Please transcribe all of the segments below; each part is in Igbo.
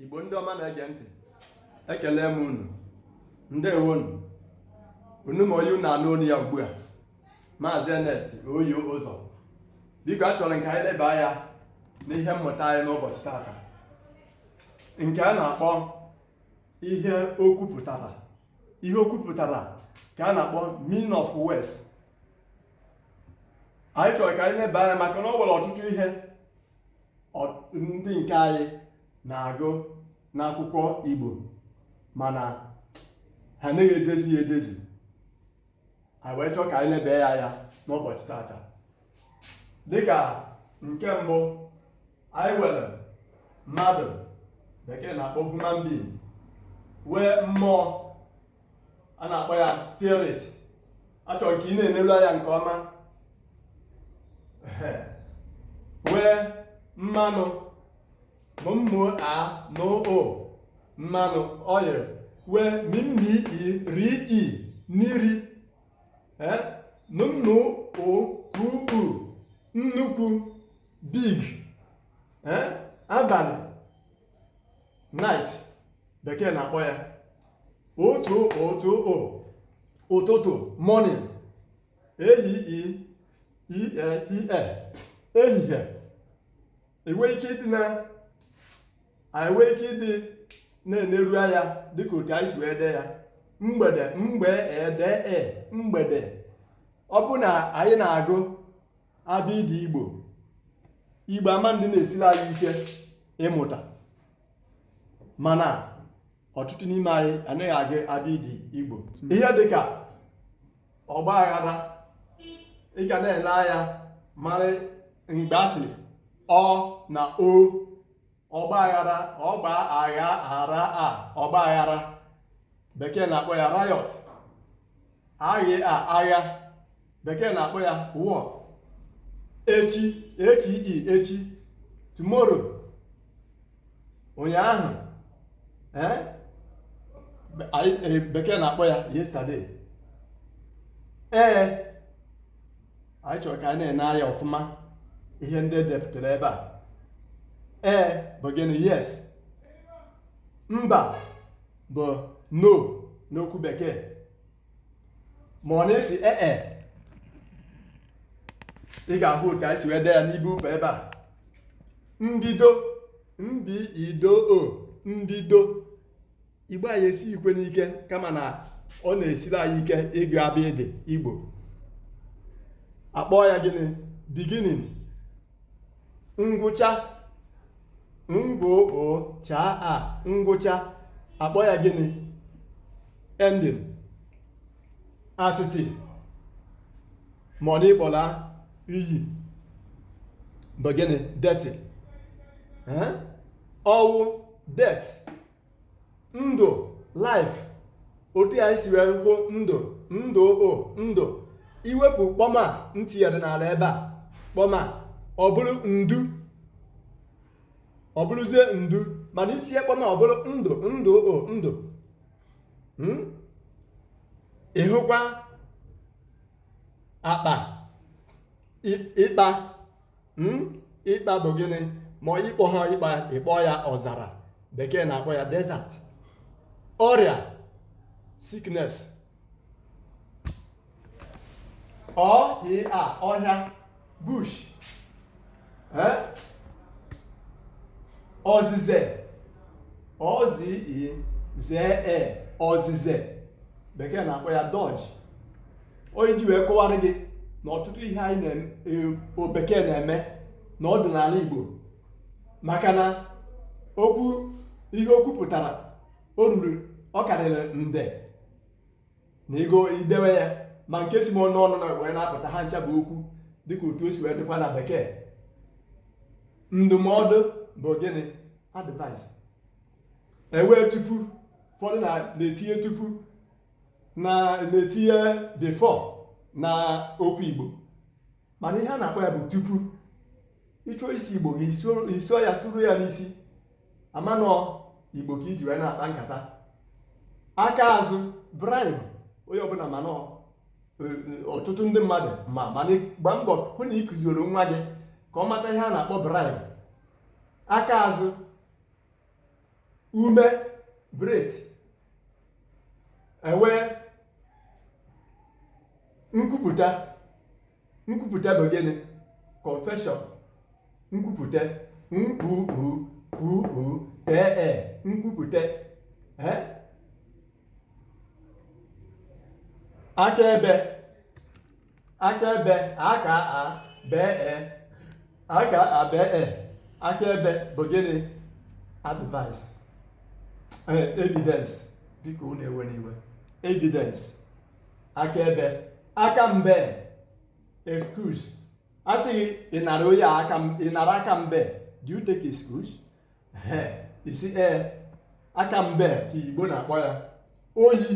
Igbo ndị ọma na-ege ntị ekelee m unu ndewo nu unu ma onye unu na-anụ olu ya ugbu a maazị Ernest oyi ụzọ biko achọrọ m ka anyị leba anya n'ihe mmụta anyị n'ụbọchị tata nke a na-akpọ ihe okwu pụtara ihe okwu pụtara ka a na-akpọ meaning of words anyị chọrọ ka anyị leba anya maka na o nwere ọtụtụ ihe ndị nke anyị na-agụ n'akwụkwọ Igbo mana ha anaghị edezi ya edezi anyị wee chọọ ka anyị leba ya anya n'ụbọchị tata dịka nke mbụ anyị nwere mmadụ bekee na-akpọ human being nwee mmụọ a na-akpọ ya spirit achọrọ m ka ị na-enelu anya nke ọma nwee mmanụ m m a n ụ mmanụ oil nwee m m i r i mmiri n n u kw u nnukwu big abalị night bekee na-akpọ ya ụ t ụ t ụ ụtụtụ morning ehihie ihe ehihie i nwee ike ịdị na i nwee ike ịdị na-eneru anya dịka otu anyị si wee dee ya mgbede m gb e d e mgbede ọ bụ na anyị na-agụ abịdị igbo igbo ama adị na-esiri anyị ike ịmụta mana ọtụtụ n'ime anyị anaghị agụ abịdị igbo ihe dịka ọgba aghara ị ga na-ele anya mara mgbe a sịrị ọ na o ọgba aghara ọ gb a gh a r a ọgba aghara bekee na-akpọ ya riot a gh a agha bekee na-akpọ ya war echi e ch i echi tomorrow ụnyaahụ eh? Eh, bekee na-akpọ ya yesterday ee eh, anyị chọrọ ka a na-ene anya ọfụma ihe ndị e depụtara ebe a ee bụ gịnị yes mba bụ no n'okwu bekee mana a sị ee e, ị ga-ahụ otu anyị si wee dee ya n'ibe ụkpa ebe a mbido m b i d o mbido igbo anyị esighịkwanụ ike kama na ọ na-esiri anyị ike ịgụ abịdị igbo akpọọ ya gịnị beginning ngwụcha ngwụcha a ngwụcha akpọ ya gịnị ending atịtị ma ọ na ịkpọla inyi bụ gịnị dirty ọnwụ death ndụ life otu anyị si wee kwuo ndụ ndụ o ndụ iwepụ kpọm a m tinyere n'ala ebe a kpọm a ọ bụrụ ndu ọ bụrụzie ndu mana itinye kpọm a ọ bụrụ ndụ ndụ o ndụ Hmm? ịhụkwa akpa ị- ịkpa hmm? ịkpa bụ gịnị ma ịkpọ ha ịkpa ịkpọ ya ọzara bekee na-akpọ ya desert ọrịa sickness ọhịa ọhịa bush eh? ozize ozi zee e, ozize bekee na-akpọ ya dodge onye ji wee kọwara gị na ọtụtụ ihe anyị o bekee e, na-eme na ọ dị n'ala Igbo maka na okwu ihe o kwupụtara o ruru ọ karịrị nde na ego idewe ya ma nke si m n'ọnụ wee na-apụta ha ncha bụ okwu dịka otu o si wee dịkwa na bekee ndụmọdụ bụ gịnị advice enwee tupu ụfọdụ na-etinye tupu na-etinye before na okwu Igbo mana ihe a na-akpọ ya bụ tupu ịchọ ịsụ Igbo gị sụọ ya sụruo ya n'isi a ma na ọ Igbo ka iji wee na-akpa nkata aka azụ bribe onye ọbụla mana e, e, ọtụtụ ndị mmadụ ma mana gba mbọ hụ na ịkụzioro nwa gị ka ọ mata ihe a na-akpọ bribe aka azụ ume breath enwee nkwupụta nkwupụta bụ gịnị confession nkwupụta nkwupu kwupu tee e nkwupụta eh? akaebe akaebe aka a bee e aka a bee e akaebe bụ gịnị advice eh, evidence biko unu ewena iwe evidence akaebe aka mbe excuse a sị gị ị nara onye a aka m- ị nara aka mbe do you take excuse Eh, ị sị ee aka mbe ka igbo na-akpọ ya ọṅụ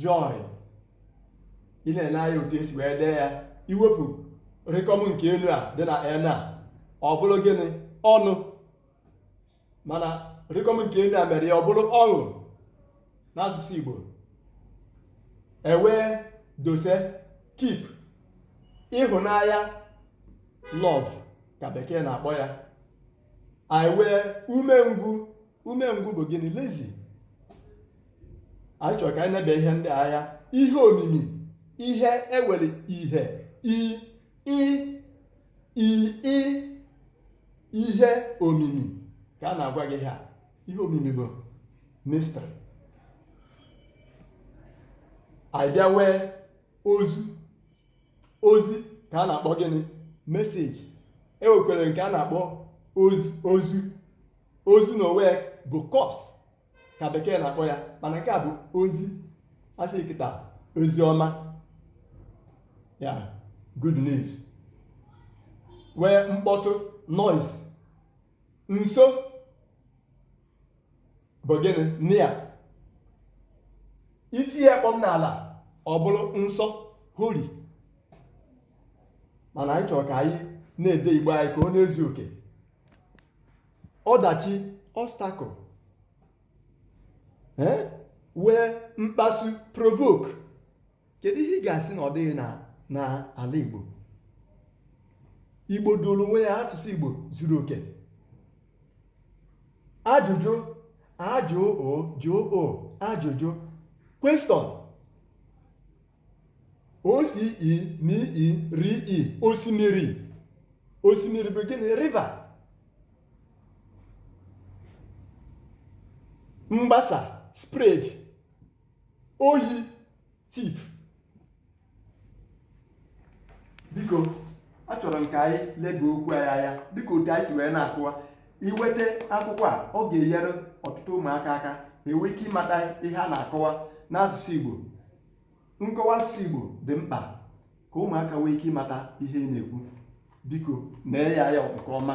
joy ị na-ele anya otu e si wee dee ya i wepụ rịkọm nke elu a dị na n a ọ bụrụ gịnị ọnụ mana rịkọm nke elu a mere ya ọ bụrụ ọṅụ n'asụsụ Igbo e wee dose keep ịhụnanya love ka bekee na-akpọ ya anyị wee umengwụ umengwụ bụ gịnị lazy anyị chọrọ ka anyị nebe ihe ndị ahụ ihe omimi ihe e were ihe i i i i ihe omimi ka a na-agwa gị ha ihe omimi bụ mystery anyị bịa wee ozu ozi ka a na-akpọ gịnị message e nwekwere nke a na-akpọ ozu ozu n'onwe bụ corpse ka bekee na-akpọ ya mana nke a bụ ozi a sị kịta ozi ọma ya good news wee mkpọtụ noise nso bụ gịnị near i tinye kpọm n'ala ọ bụrụ nsọ holy mana anyị chọrọ ka anyị na-ede igbo anyị ka ọ na-ezu oke ọdachi obstacle eh? wee mkpasu provoke kedu ihe ị ga-asị na ọ dịghị na na ala Igbo Igbo doro onwe ya asụsụ Igbo zuru oke ajụjụ a jụ ụ jụ ụ ajụjụ question o si i mi i ri i osimiri osimiri bụ gịnị river mgbasa spread ohi thief biko achọrọ m ka anyị leba okwu anyị anya dịka otu anyị si wee na-akọwa i nweta akwụkwọ a ọ ga-enyere ọtụtụ ụmụaka aka ha enwee ike ịmata ihe a na-akọwa n'asụsụ Igbo nkọwa asụsụ Igbo dị mkpa ka ụmụaka nwee ike ịmata ihe ị na-ekwu biko nee ya anya nke ọma